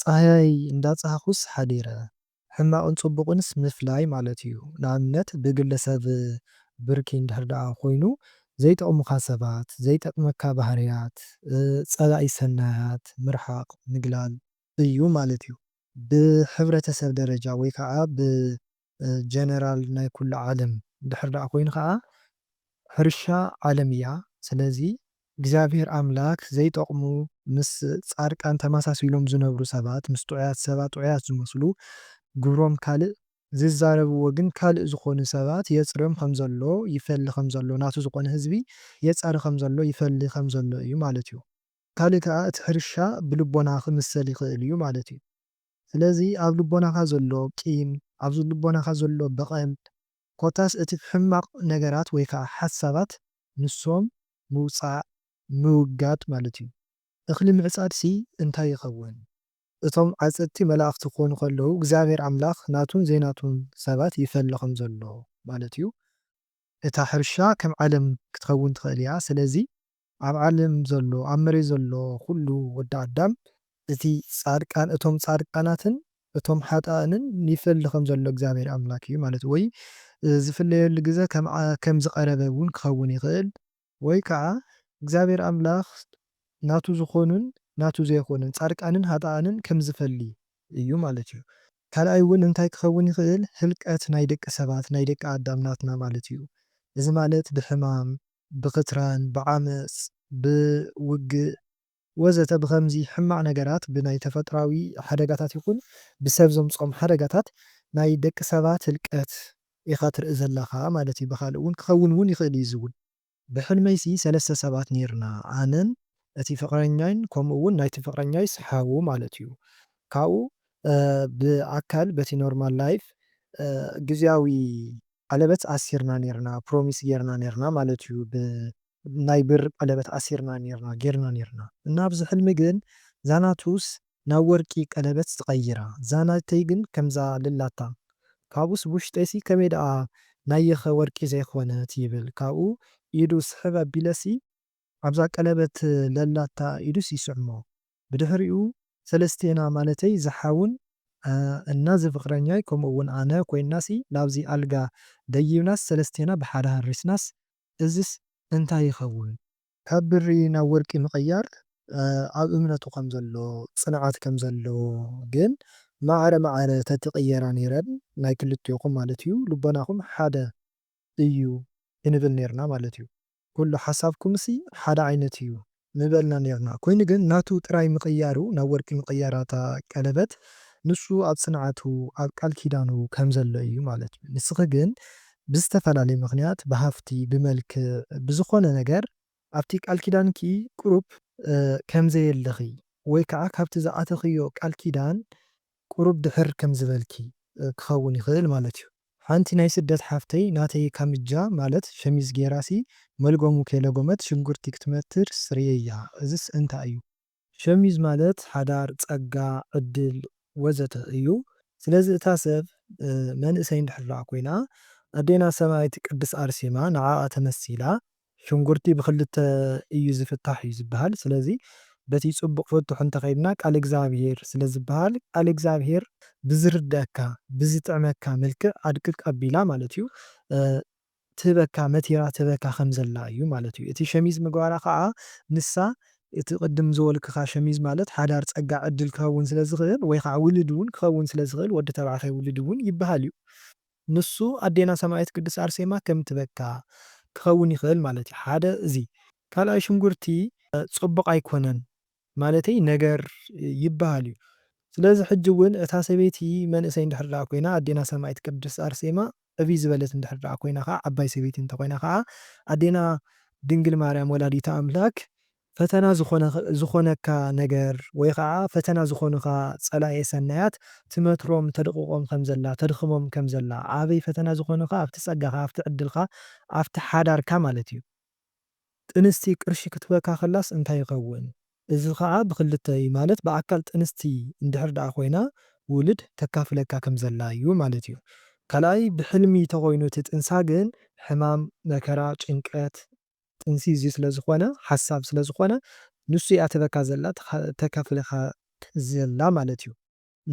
ጻህያይ እንዳጻህኩስ ሓዲረ ሕማቕን ጽቡቕንስ ምፍላይ ማለት እዩ ንኣብነት ብግለ ሰብ ብርኪ እንድሕር ደኣ ኮይኑ ዘይጠቕሙኻ ሰባት ዘይጠቅመካ ባህርያት ጸላኢ ሰናያት ምርሓቕ ምግላል እዩ ማለት እዩ። ብሕብረተሰብ ደረጃ ወይ ከኣ ጀነራል ናይ ኩሉ ዓለም ድሕር ደኣ ኮይኑ ከኣ ሕርሻ ዓለም እያ ስለዚ እግዚኣብሄር ኣምላክ ዘይጠቅሙ ምስ ጻድቃን ተመሳሲሎም ዝነብሩ ሰባት ምስ ጥዑያት ሰባት ጥዑያት ዝመስሉ ግብሮም ካልእ ዝዛረብዎ ግን ካልእ ዝኮኑ ሰባት የጽርዮም ከም ዘሎ ይፈሊ ከም ዘሎ ናቱ ዝኮነ ህዝቢ የጻሪ ከም ዘሎ ይፈሊ ከም ዘሎ እዩ ማለት እዩ ካልእ ከኣ እቲ ሕርሻ ብልቦና ክምሰል ይክእል እዩ ማለት እዩ። ስለዚ ኣብ ልቦናኻ ዘሎ ቂም፣ ኣብ ልቦናኻ ዘሎ በቐል፣ ኮታስ እቲ ሕማቕ ነገራት ወይ ከኣ ሓሳባት ንሶም ምውጻእ፣ ምውጋድ፣ ማለት እዩ። እኽሊ ምዕጻድሲ እንታይ ይኸውን? እቶም ዓጸድቲ መላእኽቲ ክኾኑ ከለዉ እግዚኣብሔር ኣምላኽ ናቱን ዘይናቱን ሰባት ይፈሊ ከም ዘሎ ማለት እዩ። እታ ሕርሻ ከም ዓለም ክትኸውን ትኽእል እያ። ስለዚ ኣብ ዓለም ዘሎ ኣብ መሬት ዘሎ ኩሉ ወዲ ኣዳም እቲ ጻድቃን እቶም ጻድቃናትን እቶም ሓጣእንን ይፈሊ ከም ዘሎ እግዚኣብሔር ኣምላክ እዩ ማለት ወይ ዝፍለየሉ ግዘ ከም ዝቀረበ እውን ክከውን ይክእል። ወይ ከዓ እግዚኣብሔር ኣምላክ ናቱ ዝኮኑን ናቱ ዘይኮኑን ጻድቃንን ሃጣኣንን ከም ዝፈሊ እዩ ማለት እዩ። ካልኣይ እውን እንታይ ክከውን ይክእል ህልቀት ናይ ደቂ ሰባት ናይ ደቂ ኣዳም ናትና ማለት እዩ እዚ ማለት ብሕማም ብክትራን ብዓመጽ ብውግእ ወዘተ ብኸምዚ ሕማቕ ነገራት ብናይ ተፈጥራዊ ሓደጋታት ይኹን ብሰብ ዘምጽኦም ሓደጋታት ናይ ደቂ ሰባት ህልቀት ኢኻ ትርኢ ዘለኻ ማለት እዩ ብኻልእ ውን ክኸውን ውን ይኽእል እዩ እዚ ውን። ብሕልመይሲ ሰለስተ ሰባት ኔርና ኣነን እቲ ፍቕረኛይን ከምኡ ውን ናይቲ ፍቕረኛይስ ሓው ማለት እዩ ካብኡ ብኣካል በቲ ኖርማል ላይፍ ግዝያዊ ቀለበት ኣሲርና ኔርና ፕሮሚስ ጌርና ኔርና ማለት እዩ ብ ናይ ብር ቀለበት ኣሲርና ኔርና ጌርና ኔርና እና ኣብዚ ሕልሚ ግን ዛናቱስ ናብ ወርቂ ቀለበት ትቀይራ ዛናተይ ግን ከምዛ ልላታ ካብኡስ ብውሽጠይሲ ከመይ ደኣ ናየኸ ወርቂ ዘይኮነት ይብል ካብኡ ኢዱ ስሕብ ኣቢለሲ ኣብዛ ቀለበት ለላታ ኢዱስ ይስዕሞ ብድሕሪኡ ሰለስቴና ማለተይ ዝሓውን እና ዝፍቅረኛይ ከምኡ እውን ኣነ ኮይንና ሲ ላብዚ ኣልጋ ደይብናስ ሰለስቴና ብሓደ ሃሪስናስ እዝስ እንታይ ይከውን? ካብ ብሪ ናብ ወርቂ ምቅያር ኣብ እምነቱ ከም ዘሎ ፅንዓት ከም ዘለዎ ግን ማዕረ ማዕረ ተትቅየራ ነይረን ናይ ክልቴኩም ማለት እዩ ልቦናኩም ሓደ እዩ ክንብል ነይርና ማለት እዩ። ኩሉ ሓሳብኩምሲ ሓደ ዓይነት እዩ ምበልና ኔርና ኮይኑ ግን ናቱ ጥራይ ምቅያሩ ናብ ወርቂ ምቅያራ እታ ቀለበት ንሱ ኣብ ጽንዓቱ ኣብ ቃል ኪዳኑ ከም ዘሎ እዩ ማለት እዩ ንስኪ ግን ብዝተፈላለየ ምክንያት ብሃፍቲ ብመልክዕ ብዝኮነ ነገር ኣብቲ ቃል ኪዳንኪ ቅሩብ ከም ዘየለኺ ወይ ከኣ ካብቲ ዝኣተኽዮ ቃል ኪዳን ቁሩብ ድሕር ከም ዝበልኪ ክኸውን ይኽእል ማለት ዩ። ሓንቲ ናይ ስደት ሓፍተይ ናተይ ካምጃ ማለት ሸሚዝ ጌራሲ መልጎሙ ከይለጎመት ሽጉርቲ ክትመትርስ ርእየያ እዝስ እንታይ እዩ? ሸሚዝ ማለት ሓዳር፣ ጸጋ፣ ዕድል ወዘተ እዩ ስለዚ እታ ሰብ መንእሰይ እንድሕር ኮይና ኣዴና ሰማእት ቅድስ ኣርሴማ ንዓኣ ተመሲላ ሽንጉርቲ ብክልተ እዩ ዝፍታሕ እዩ ዝበሃል ስለዚ በቲ ጽቡቅ ፍቱሕ እንተከይድና ቃል እግዝኣብሄር ስለ ዝበሃል ቃል እግዝኣብሄር ብዝርደኣካ ብዝጥዕመካ መልክዕ ኣድቅቅ ኣቢላ ማለት እዩ ትህበካ መቲራ ትህበካ ከም ዘላ እዩ ማለት እዩ እቲ ሸሚዝ ምግባራ ከኣ ንሳ እቲ ቅድም ዝበልክካ ሸሚዝ ማለት ሓዳር ጸጋ ዕድል ክከውን ስለ ዝክእል ወይ ከኣ ውልድ ውን ክከውን ስለ ዝክእል ወዲ ተባዕታይ ውልድ ውን ይበሃል እዩ ንሱ ኣዴና ሰማኢት ቅድስት ኣርሴማ ከም ትበካ ክኸውን ይኽእል ማለት እዩ ሓደ እዚ ካልኣይ ሽንጉርቲ ጽቡቕ ኣይኮነን ማለተይ ነገር ይብሃል እዩ ስለዚ ሕጂ ውን እታ ሰበይቲ መንእሰይ እንድሕር ድኣ ኮይና ኣዴና ሰማኢት ቅድስት ኣርሴማ ዕብይ ዝበለት እንድሕር ድኣ ኮይና ከኣ ዓባይ ሰበይቲ እንተኾይና ከኣ ኣዴና ድንግል ማርያም ወላዲተ ኣምላክ ፈተና ዝኾነካ ነገር ወይ ኸዓ ፈተና ዝኾኑኻ ፀላኤ ሰናያት ትመትሮም ተድቕቖም ከም ዘላ ተድኽሞም ከም ዘላ ኣበይ ፈተና ዝኾኑኻ ኣብቲ ፀጋኻ ኣብቲ ዕድልካ ኣብቲ ሓዳርካ ማለት እዩ ጥንስቲ ቅርሺ ክትበካ ከላስ እንታይ ይኸውን እዚ ኸዓ ብኽልተ እዩ ማለት ብኣካል ጥንስቲ እንድሕር ደኣ ኮይና ውልድ ተካፍለካ ከም ዘላ እዩ ማለት እዩ ካልኣይ ብሕልሚ ተኾይኑ እቲ ጥንሳ ግን ሕማም መከራ ጭንቀት ጥንሲ እዚ ስለ ዝኾነ ሓሳብ ስለ ዝኾነ ንሱ እያ ትህበካ ዘላ ተካፍለካ ዘላ ማለት እዩ።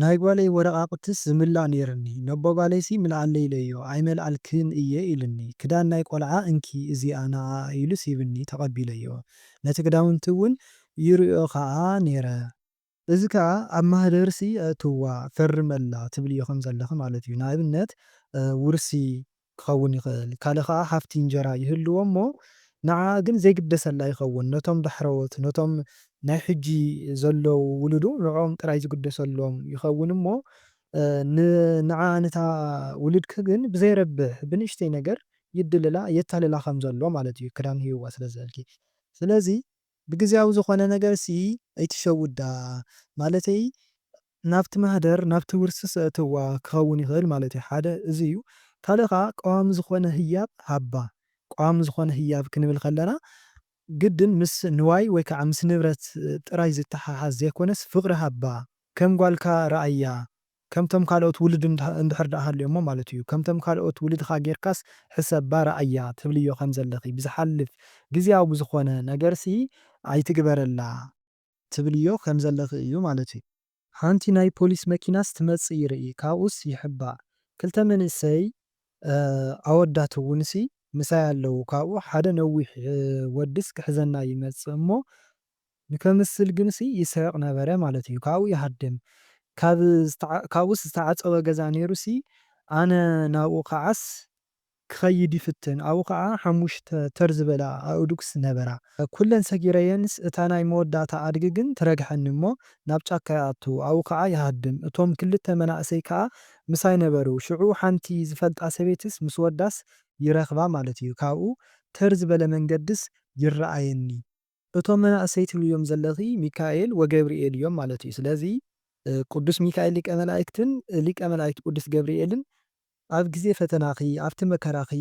ናይ ጓለይ ወረቓቕትስ ዝምላእ ኔርኒ ነቦ ጋለይሲ ምልኣለይ ኢለዮ ኣይመልኣልክን እየ ኢሉኒ ክዳን ናይ ቆልዓ እንኪ እዚኣ ንዓኣ ኢሉስ ሂብኒ ተቐቢለዮ ነቲ ክዳውንቲ እውን ይርእዮ ከኣ ኔረ እዚ ከኣ ኣብ ማህደርሲ ኣእትውዋ፣ ፈርመላ፣ ትብልዮ ከም ዘለኺ ማለት እዩ። ንኣብነት ውርሲ ክኸውን ይኽእል፣ ካልእ ከኣ ሃፍቲ እንጀራ ይህልዎ እሞ ንዓኣ ግን ዘይግደሰላ ይኸውን። ነቶም ዳሕረዎት፣ ነቶም ናይ ሕጂ ዘለዉ ውሉዱ ንዕኦም ጥራይ ዝግደሰሎም ይኸውን እሞ ንዓኣ ነታ ውሉድኪ ግን ብዘይረብሕ ብንእሽተይ ነገር ይድልላ፣ የታልላ ከም ዘሎ ማለት እዩ፣ ክዳን ሂብዋ ስለ ዝበልኪ። ስለዚ ብግዝያዊ ዝኾነ ነገር ሲ ኣይትሸውዳ ማለተይ ናብቲ ማህደር ናብቲ ውርሲ ሰእትዋ ክኸውን ይኽእል ማለትዩ ሓደ እዚ እዩ ካልእ ከኣ ቀዋሚ ዝኾነ ህያብ ሃባ ቀዋሚ ዝኾነ ህያብ ክንብል ከለና ግድን ምስ ንዋይ ወይ ከኣ ምስ ንብረት ጥራይ ዝተሓሓዝ ዘይኮነስ ፍቕሪ ሃባ ከም ጓልካ ረኣያ ከምቶም ካልኦት ውሉድ እንድሕር ደኣ ሃልዮሞ ማለት እዩ። ከምቶም ካልኦት ውሉድኻ ጌርካስ ሕሰባ ረኣያ ትብልዮ ከም ዘለኺ። ብዝሓልፍ ግዝያዊ ብዝኾነ ነገርሲ ኣይትግበረላ ትብልዮ ከም ዘለኺ እዩ ማለት እዩ። ሓንቲ ናይ ፖሊስ መኪናስ ትመጽእ ይርኢ ካብኡስ ይሕባእ ክልተ መንእሰይ ኣወዳት እውንሲ ምሳይ ኣለዉ ካብኡ ሓደ ነዊሕ ወድስ ክሕዘና ይመጽእ እሞ ንከምስል ግንሲ ይስሕቅ ነበረ ማለት እዩ ካብኡ ይሃድም ካብ ካብኡስ ዝተዓጸወ ገዛ ኔሩሲ ኣነ ናብኡ ክዓስ ክከይድ ይፍትን ኣብኡ ክዓ ሓሙሽተ ተር ዝበላ ኣእዱግስ ነበራ ኩለን ሰጊረየንስ እታ ናይ መወዳእታ ኣድጊ ግን ትረግሐኒ እሞ ናብ ጫካ ይኣቱ ኣብኡ ክዓ ይሃድም እቶም ክልተ መናእሰይ ክዓ ምሳይ ነበሩ ሽዑ ሓንቲ ዝፈልጣ ሰበይትስ ምስ ወዳስ ይረክባ ማለት እዩ ካብኡ ተር ዝበለ መንገድስ ይረኣየኒ እቶም መናእሰይ ትብልዮም ዘለኺ ሚካኤል ወገብርኤል እዮም ማለት እዩ ስለዚ ቅዱስ ሚካኤል ሊቀ መላእክትን ሊቀ መላእክት ቅዱስ ገብርኤልን ኣብ ግዜ ፈተናኺ ኣብቲ መከራኺ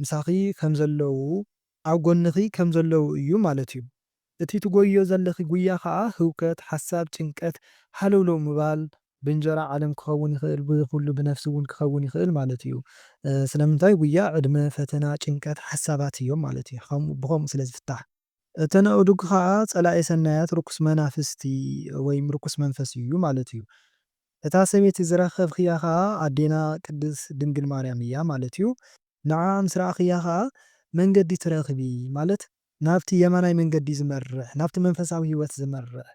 ምሳኺ ከም ዘለዉ ኣብ ጎንኺ ከም ዘለዉ እዩ ማለት እዩ እቲ ትጎይዮ ዘለኺ ጉያ ከኣ ህውከት ሓሳብ ጭንቀት ሃለውለው ምባል ብእንጀራ ዓለም ክኸውን ይኽእል ብዚ ኩሉ ብነፍሲ ውን ክኸውን ይኽእል ማለት እዩ ስለምንታይ ጉያ ዕድመ ፈተና ጭንቀት ሓሳባት እዮም ማለት እዩ ከምኡ ብኸምኡ ስለ ዝፍታሕ። እተን ኣእዱግ ኸኣ ጸላኢ ሰናያት ርኩስ መናፍስቲ ወይም ርኩስ መንፈስ እዩ ማለት እዩ እታ ሰበይቲ ዝረኸብክያ ኸኣ ኣዴና ቅድስ ድንግል ማርያም እያ ማለት እዩ ንዓኣ ምስ ረኣኽያ ኸኣ መንገዲ ትረኽቢ ማለት ናብቲ የማናይ መንገዲ ዝመርሕ፣ ናብቲ መንፈሳዊ ሕይወት ዝመርሕ፣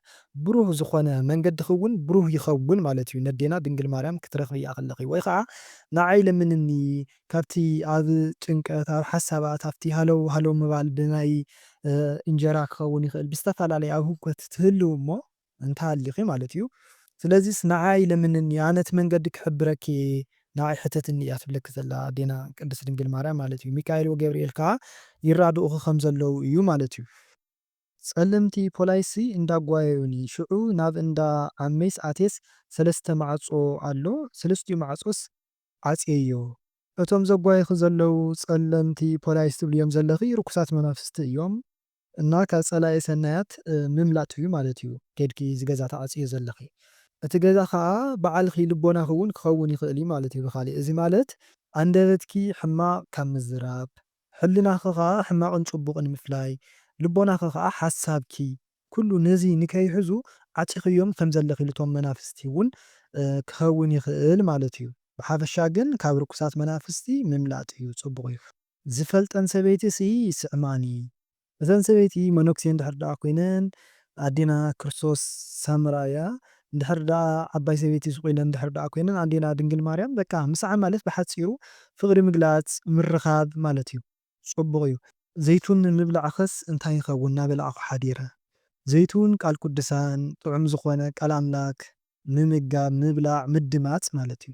ብሩህ ዝኾነ መንገድኺውን ብሩህ ይኸውን ማለት እዩ፣ ነዴና ድንግል ማርያም ክትረኽብያ ከለኺ፣ ወይ ኸዓ ንዓይ ለምንኒ፣ ካብቲ ኣብ ጭንቀት፣ ኣብ ሓሳባት፣ ኣብቲ ሃለው ሃለው ምባል፣ ብናይ እንጀራ ክኸውን ይኽእል፣ ብዝተፈላለየ ኣብ ህውከት ትህልው እሞ፣ እንተሃሊኺ ማለት እዩ ስለዚስ ንዓይ ለምንኒ ኣነ እቲ መንገዲ ክሕብረኪ እየ ንዓይ ሕተትኒ እያ ትብለኪ ዘላ ኣዴና ቅድስት ድንግል ማርያም ማለት እዩ ሚካኤል ወገብርኤል ከኣ ይራድኡኺ ከም ዘለዉ እዩ ማለት እዩ። ጸለምቲ ፖላይሲ እንዳ ጓየዩኒ ሽዑ ናብ እንዳ ዓመይስ ኣትየስ ሰለስተ ማዕጾ ኣሎ ሰለስቲኡ ማዕጾስ ዓጽየዮ እቶም ዘጓዩኺ ዘለዉ ጸለምቲ ፖላይስ ትብልዮም ዘለኺ ርኩሳት መናፍስቲ እዮም እና ካብ ፀላኢ ሰናያት ምምላጥ እዩ ማለት እዩ ከይድኪ እዚ ገዛ ትዓፅይዮ ዘለኺ እቲ ገዛ ኻዓ ባዓልኺ ልቦናኺ እውን ክኸውን ይኽእል እዩ ማለት እዩ ብኻሊእ እዚ ማለት ኣንደበትኪ ሕማቕ ካብ ምዝራብ ሕልናኺ ኻዓ ሕማቕን ፅቡቕን ምፍላይ ልቦናኺ ኻዓ ሓሳብኪ ኩሉ ነዚ ንከይሕዙ ዓፂኽዮም ከም ዘለኺ ልቶም መናፍስቲ እውን ክኸውን ይኽእል ማለት እዩ ብሓፈሻ ግን ካብ ርኩሳት መናፍስቲ ምምላጥ እዩ ፅቡቕ እዩ። ዝፈልጠን ሰበይቲ ሲ ይስዕማኒ እተን ሰበይቲ መነኩሴ እንድሕር ደኣ ኮይነን ኣዴና ክርስቶስ ሳምራ እያ እንድሕር ደኣ ዓባይ ሰበይቲ ሱቅ ኢለን እንድሕር ደኣ ኮይነን ኣዴና ድንግል ማርያም በቃ ምስዓም ማለት ብሓጺሩ ፍቅሪ ምግላጽ ምርኻብ ማለት እዩ ጽቡቅ እዩ። ዘይቱን ምብላዕኸስ እንታይ ይኸውን ናበላዕኹ ሓዲረ ዘይቱን ቃል ቁድሳን ጥዑም ዝኾነ ቃል ኣምላክ ምምጋብ ምብላዕ ምድማጽ ማለት እዩ።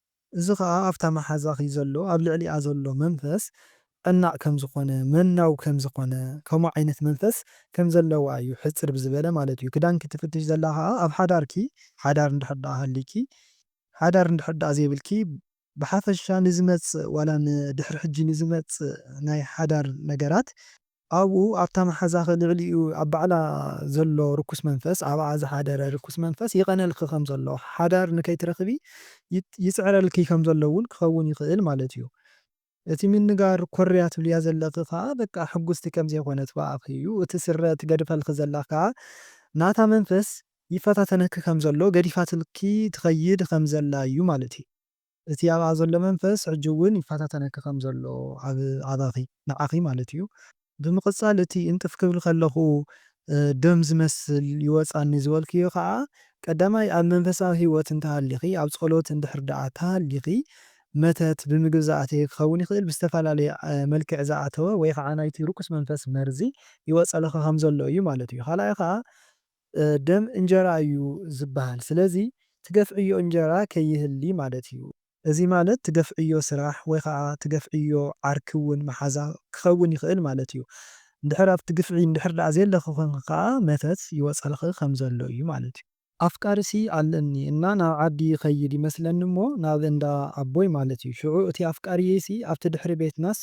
እዚ ኸኣ ኣብታ መሓዛኺ ዘሎ ኣብ ልዕሊኣ ዘሎ መንፈስ ቀናእ ከም ዝኾነ መናው ከም ዝኾነ ከምኡ ዓይነት መንፈስ ከም ዘለዋ እዩ ሕጽር ብዝበለ ማለት እዩ ክዳንኪ ትፍትሺ ዘላ ኸኣ ኣብ ሓዳርኪ ሓዳር እንድሕር ድኣ ሃልይኪ ሓዳር እንድሕር ድኣ ዘይብልኪ ብሓፈሻ ንዝመጽእ ዋላ ንድሕሪ ሕጂ ንዝመጽእ ናይ ሓዳር ነገራት ኣብኡ ኣብታ መሓዛኺ ልዕሊኡ ኣብ ባዕላ ዘሎ ርኩስ መንፈስ ኣብኣ ዝሓደረ ርኩስ መንፈስ ይቐነልኪ ከም ዘሎ ሓዳር ንከይትረኽቢ ይጽዕረልኪ ከም ዘሎ ውን ክኸውን ይኽእል ማለት እዩ እቲ ምንጋር ኮርያ ትብልያ ዘለኺ ከኣ በቃ ሕጉስቲ ከም ዘይኮነት ብኣኺ እዩ እቲ ስረ ትገድፈልኺ ዘላ ከኣ ናታ መንፈስ ይፈታተነኪ ከም ዘሎ ገዲፋትልኪ ትኸይድ ከም ዘላ እዩ ማለት እዩ። እቲ ኣብኣ ዘሎ መንፈስ ሕጂ እውን ይፈታተነኪ ከም ዘሎ ኣብ ኣባኺ ንዓኺ ማለት እዩ ብምቕጻል እቲ እንጥፍ ክብል ከለኹ ደም ዝመስል ይወጻኒ ዝበልክዮ ከኣ ቀዳማይ ኣብ መንፈሳዊ ሂወት እንተሃሊኺ ኣብ ጸሎት እንድሕር ደኣ ተሃሊኺ መተት ብምግቢ ዝኣተየ ክኸውን ይኽእል ብዝተፈላለየ መልክዕ ዝኣተወ ወይ ከኣ ናይቲ ርኩስ መንፈስ መርዚ ይወጸልኺ ከም ዘሎ እዩ ማለት እዩ ካልኣይ ከኣ ደም እንጀራ እዩ ዝብሃል ስለዚ ትገፍዕዮ እንጀራ ከይህሊ ማለት እዩ። እዚ ማለት ትገፍዕዮ ስራሕ ወይ ኸኣ ትገፍዕዮ ዓርኪ ውን መሓዛ ክኸውን ይኽእል ማለት እዩ። እንድሕር ኣብቲ ግፍዒ እንድሕር ደኣ ዘየለኺ ኮንኪ ከኣ መተት ይወጸልኺ ከም ዘሎ እዩ ማለት እዩ። ኣፍቃሪሲ ኣለኒ እና ናብ ዓዲ ይኸይድ ይመስለኒ እሞ ናብ እንዳ ኣቦይ ማለት እዩ ሽዑ እቲ ኣፍቃሪየይሲ ኣብቲ ድሕሪ ቤትናስ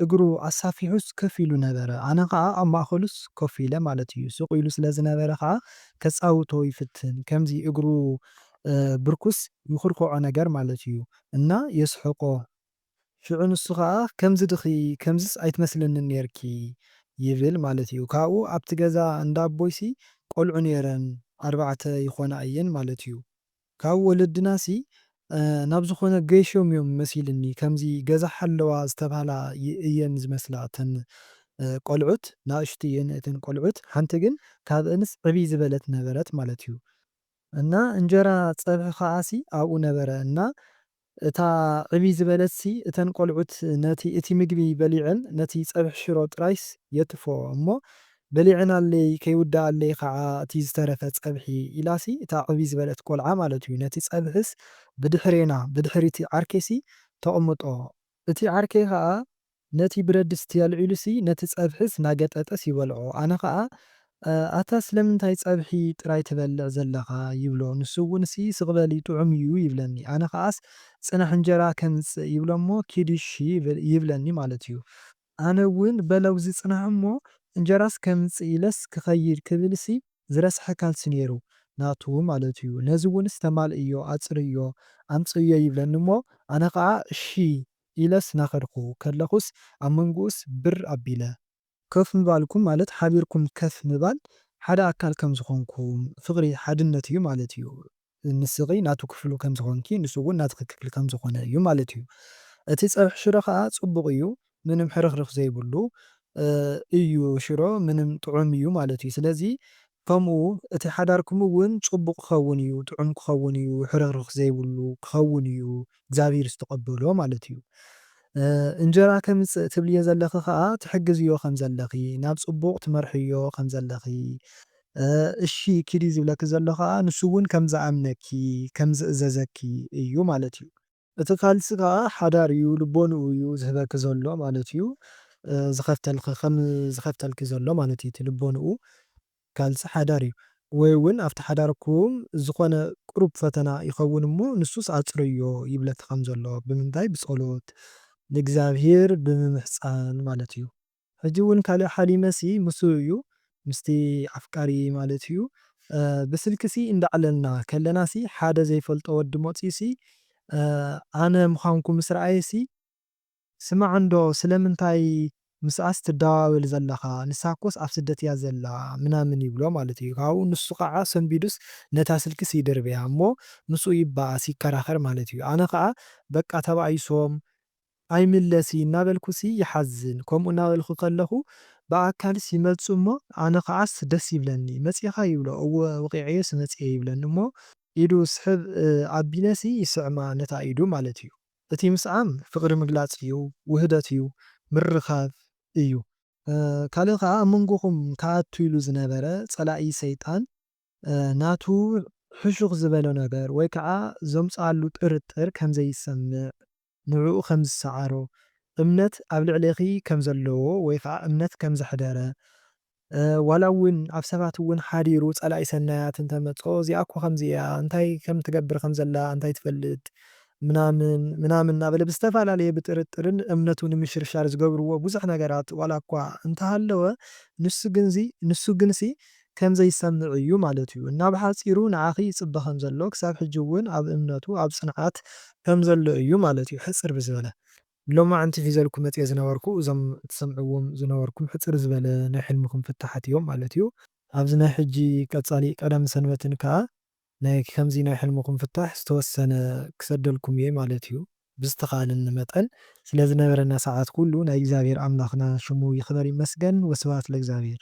እግሩ ኣሳፊሑስ ከፍ ኢሉ ነበረ። ኣነ ከኣ ኣብ ማእከሉስ ኮፍ ኢለ ማለት ኢዩ። ስቕ ኢሉ ስለ ዝነበረ ከኣ ከጻውቶ ይፍትን። ከምዚ እግሩ ብርኩስ ይኹርኩዖ ነገር ማለት ኢዩ። እና የስሕቆ። ሽዑ ንሱ ከኣ ከምዚ ድኺ ከምዚስ ኣይትመስልንን ኔርኪ ይብል ማለት ኢዩ። ካብኡ ኣብቲ ገዛ እንዳ ኣቦይሲ ቆልዑ ኔረን ኣርባዕተ ይኾና ኢየን ማለት ኢዩ። ካብ ወለድናሲ ናብ ዝኾነ ገይሾም እዮም መሲልኒ ከምዚ ገዛ ሓለዋ ዝተብሃላ እየን ዝመስላ እተን ቆልዑት ናእሽቱ እየን እተን ቆልዑት ሓንቲ ግን ካብእንስ ዕብይ ዝበለት ነበረት ማለት እዩ እና እንጀራ ፀብሒ ከኣሲ ኣብኡ ነበረ እና እታ ዕብይ ዝበለትሲ እተን ቆልዑት ነቲ እቲ ምግቢ በሊዐን ነቲ ጸብሒ ሽሮ ጥራይስ የትፍኦ እሞ በሊዐናለይ ከይውደኣለይ ከኣ እቲ ዝተረፈ ጸብሒ ኢላሲ እታ ዕብይ ዝበለት ቆልዓ ማለት እዩ ነቲ ጸብሒስ ብድሕሬና ብድሕሪቲ ዓርከይሲ ተቕምጦ እቲ ዓርከይ ከኣ ነቲ ብረድስቲ ኣልዒሉሲ ነቲ ጸብሒስ ናገጠጠስ ይበልዖ ኣነ ከኣ ኣታ ስለምንታይ ጸብሒ ጥራይ ትበልዕ ዘለኻ ይብሎ ንሱ እውንሲ ስቅ በል ጥዑም እዩ ይብለኒ ኣነ ከኣስ ጽናሕ እንጀራ ከምጽእ ይብሎሞ ኪድ እሺ ይብለኒ ማለት እዩ ኣነ እውን በለውዚ ጽናሕ እሞ እንጀራስ ከምጽእ ኢለስ ክኸይድ ክብልሲ ዝረስሐ ካልሲ ነይሩ ናቱ ማለት እዩ ነዚ እውንስ ተማልእዮ ኣጽርዮ ኣምጽእዮ ይብለኒ እሞ ኣነ ከኣ እሺ ኢለስ ናኸድኩ ከለኹስ ኣብ መንጉኡስ ብር ኣቢለ። ከፍ ምባልኩም ማለት ሓቢርኩም ከፍ ምባል ሓደ ኣካል ከም ዝኾንኩም ፍቕሪ ሓድነት እዩ ማለት እዩ ንስኺ ናቱ ክፍሉ ከም ዝኾንኪ ንሱ እውን ናትኺ ክፍሊ ከም ዝኾነ እዩ ማለት እዩ እቲ ፀብሒ ሽሮ ኸኣ ፅቡቕ እዩ ምንም ሕርኽርኽ ዘይብሉ እዩ ሽሮ ምንም ጥዑም እዩ ማለት እዩ ስለዚ ከምኡ እቲ ሓዳርኩም እውን ጽቡቕ ክኸውን እዩ፣ ጥዑም ክኸውን እዩ፣ ሕርኽርኽ ዘይብሉ ክኸውን እዩ፣ እግዚኣብሂር ዝተቐበሎ ማለት እዩ። እንጀራ ከምጽእ ትብልዮ ዘለኺ ከኣ ትሕግዝዮ ከም ዘለኺ፣ ናብ ጽቡቕ ትመርሕዮ ከም ዘለኺ፣ እሺ ኪዲ ዝብለኪ ዘሎ ከኣ ንሱ እውን ከም ዝኣምነኪ፣ ከም ዝእዘዘኪ እዩ ማለት እዩ። እቲ ካልሲ ከኣ ሓዳር እዩ ልቦንኡ እዩ ዝህበኪ ዘሎ ማለት እዩ ዝኸፍተልኺ ከም ዝኸፍተልኪ ዘሎ ማለት እዩ እቲ ልቦንኡ ካልሲ ሓዳር እዩ ወይ እውን ኣብቲ ሓዳርኩም ዝኾነ ቁሩብ ፈተና ይኸውን እሞ ንሱስ ኣጽርዮ ይብለኪ ከም ዘሎ ብምንታይ ብጸሎት ንእግዚኣብሄር ብምምሕጻን ማለት እዩ። ሕጂ ውን ካልእ ሓሊመ ሲ ምሱ እዩ ምስቲ ኣፍቃሪ ማለት እዩ ብስልኪ ሲ እንዳዕለልና ከለና ሲ ሓደ ዘይፈልጦ ወዲ መጽዩ ሲ ኣነ ምኻንኩ ምስ ረኣየ ሲ ስማዕ እንዶ ስለምንታይ ምስኣስ ትደዋወል ዘለኻ ንሳኮስ ኣብ ስደት እያ ዘላ ምናምን ይብሎ ማለት እዩ ካብኡ ንሱ ካኣ ሰንቢዱስ ነታ ስልኪ ሲ ይድርብያ እሞ ምስኡ ይባኣስ ይከራኸር ማለት እዩ ኣነ ካኣ በቃ ተባኢሶም ኣይምለስይ እናበልኩሲ ይሓዝን ከምኡ እናበልኩ ከለኹ ብኣካልስ ይመጽኡ እሞ ኣነ ከዓስ ደስ ይብለኒ መጺእኻ ይብሎ እወ ወቒዐዮሲ መጺኤ ይብለኒ እሞ ኢዱ ስሕብ ኣቢለሲ ይስዕማ ነታ ኢዱ ማለት እዩ እቲ ምስዓም ፍቕሪ ምግላጽ እዩ ውህደት እዩ ምርኻብ እዩ ካልእ ከኣ ኣብ መንጎኹም ክኣቱ ኢሉ ዝነበረ ጸላኢ ሰይጣን ናቱ ሕሹኽ ዝበሎ ነገር ወይ ከኣ ዘምጽኣሉ ጥርጥር ከምዘይሰምዕ ንዕኡ ከም ዝሰዓሮ፣ እምነት ኣብ ልዕሌኺ ከም ዘለዎ ወይ ኸኣ እምነት ከም ዘሕደረ፣ ዋላ እውን ኣብ ሰባት እውን ሓዲሩ ጸላኢ ሰናያት እንተ መጾ እዚኣ እኮ ከምዚ እያ እንታይ ከም ትገብር ከም ዘላ እንታይ ትፈልጥ ምናምን ምናምን እናበለ ብዝተፈላለየ ብጥርጥርን እምነቱ ንምሽርሻር ዝገብርዎ ብዙሕ ነገራት ዋላ እኳ እንተ ሃለወ ንሱ ግንሲ ከምዘይሰምዕ እዩ ማለት እዩ እና ብሓጺሩ ንዓኺ ይጽበ ከምዘሎ ክሳብ ሕጂ ውን ኣብ እምነቱ ኣብ ጽንዓት ከምዘሎ እዩ ማለት እዩ ሕጽር ብዝበለ። ሎማዕንቲ ሒዘልኩም መጽየ ዝነበርኩ እዞም ትሰምዕዎም ዝነበርኩም ሕጽር ዝበለ ናይ ሕልምኹም ፍታሓት እዮም ማለት እዩ። ኣብዚ ናይ ሕጂ ቀጻሊ ቀዳምን ሰንበትን ከኣ ናይ ከምዚ ናይ ሕልምኹም ፍታሕ ዝተወሰነ ክሰደልኩም እየ ማለት እዩ ብዝተኻእለኒ መጠን። ስለዝነበረና ሰዓት ኩሉ ናይ እግዚኣብሔር ኣምላኽና ሽሙ ይኽበር ይመስገን ወስብሃት ለእግዚኣብሔር።